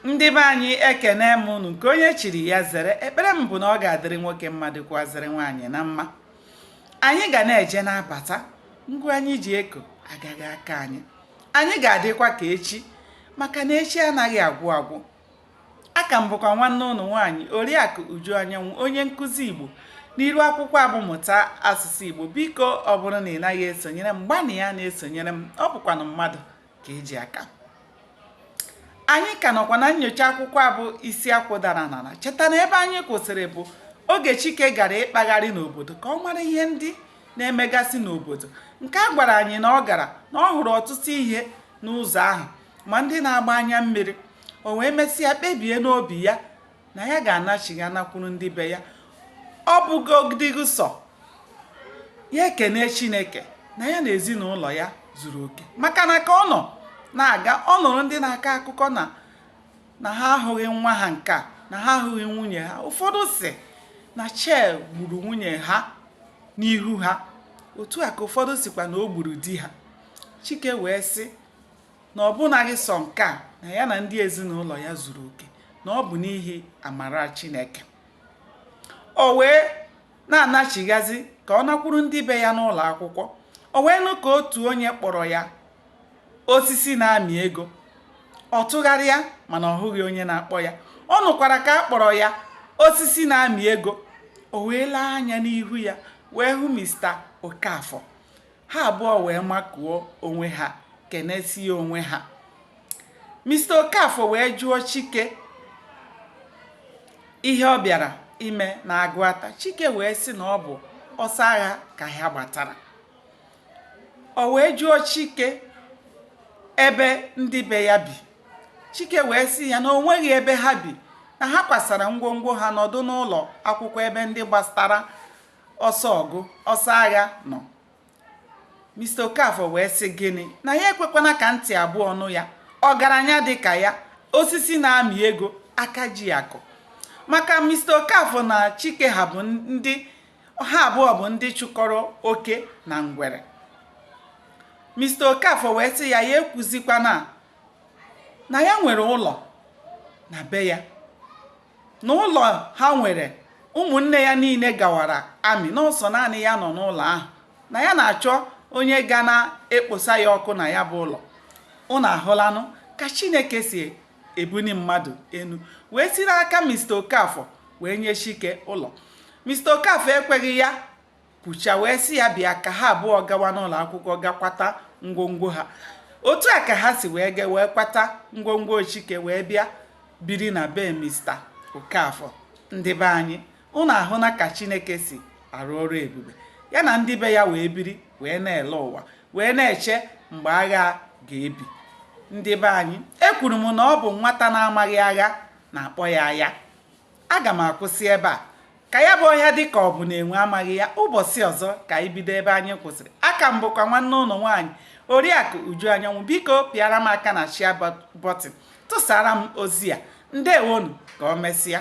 ndị be anyị ekene m unu nke onye chiri ya zere ekpere m bụ na ọ ga-adịrị nwoke mma dịkwazịrị nwaanyị na mma anyị ga na-eje na-abata ngwa anyị ji eko agaghị aka anyị anyị ga-adịkwa ka echi maka na echi anaghị agwụ agwụ a ka m bụkwa nwanne unu nwaanyị oriakụ uju anyanwụ onye nkụzi igbo n'iru akwụkwọ a bụ mụta asụsụ igbo biko ọ bụrụ na ị naghị esonyere m gbanịa na-esonyere m ọ bụkwanụ mmadụ ka e ji aka anyị ka nọkwa na nyocha akwụkwọ a bụ isi akwụ dara n'ala cheta na ebe anyị kwụsịrị bụ oge chike gara ịkpagharị n'obodo ka ọ mara ihe ndị na-emegasị n'obodo nke a gwara anyị na ọ gara na ọ hụrụ ọtụtụ ihe n'ụzọ ahụ ma ndị na-agba anya mmiri o wee mesịa kpebie n'obi ya na ya ga-anachigha nakwuru ndị be ya ọ bụgodịghị sọ ya ekene chineke na ya na ezinụlọ ya zuru oke maka na ka ọ nọ na-aga ọ nụrụ ndị na-akọ akụkọ na ha ahụghị nwa ha nke a na ha ahụghị nwunye ha ụfọdụ sị na shell gburu nwunye ha n'ihu ha otu a ka ụfọdụ sịkwa na o gburu di ha chike wee sị na ọ bụnaghị sọ nke a na ya na ndị ezinụlọ ya zuru oke na ọ bụ n'ihi amara Chineke o wee na-anachighazi ka ọ nakwuru ndị be ya n'ụlọ akwụkwọ o wee nụ ka otu onye kpọrọ ya osisi na-amị ego ọ tụgharịa mana ọ hụghị onye na-akpọ ya ọ nụkwara ka a kpọrọ ya osisi na-amị ego o wee lee anya n'ihu ya wee hụ Mr. Okafor ha abụọ wee makụọ onwe ha kenesie onwe ha Mr. Okafor wee jụọ Chike ihe ọ bịara ime na Agụata Chike wee sị na ọ bụ ọsọ agha ka ha gbatara o wee jụọ Chike ebe ndị be ya bi Chike wee sị ya na o nweghị ebe ha bi na ha kwasara ngwongwo ha nọdụ n'ụlọ akwụkwọ ebe ndị gbatara ọsọ ọgụ ọsọ agha nọ Mr. Okafor wee sị gịnị na ya ekwekwana ka ntị abụọ nụ ya ọgaranya dị ka ya osisi na-amị ego aka ji akụ maka Mr. Okafor na Chike ha abụọ bụ ndị chụkọrọ oke na ngwere Mr. Okafor wee sị ya ya ekwuzikwana na ya nwere ụlọ na be ya Na ụlọ ha nwere, ụmụnne ya niile gawara army na ọ sọ naanị ya nọ n'ụlọ ahụ na ya na-achọ onye ga na-ekposa ya ọkụ na ya bụ ụlọ. Unu ahụlanụ ka Chineke si ebuni mmadụ enu wee siri aka Mr. Okafor wee nye Chike ụlọ. Mr. Okafor ekweghị ya kwucha wee sị ya bịa ka ha abụọ gawa n'ụlọ akwụkwọ gakwata ngwongwo ha otu a ka ha si wee kwata ngwongwo chike wee bịa biri na be mista okafọ ndị be anyị ụnụ ahụna ka chineke si arụ ọrụ ebube ya na ndị be ya wee biri wee na-ele ụwa wee na-eche mgbe agha ga-ebi ndị be anyị ekwuru m na ọ bụ nwata na-amaghị agha na-akpọ ya aya aga m akwụsị ebe a ka ya bụ ọhịa dị ka ọ bụ na enwe amaghị ya ụbọchị ọzọ ka anyị bido ebe anyị kwụsịrị aka m bụkwa nwanne ụnụ nwaanyị oriakụ uju anyanwụ biko pịara m aka na share button tụsara m ozi a ndewonu ka o mesịa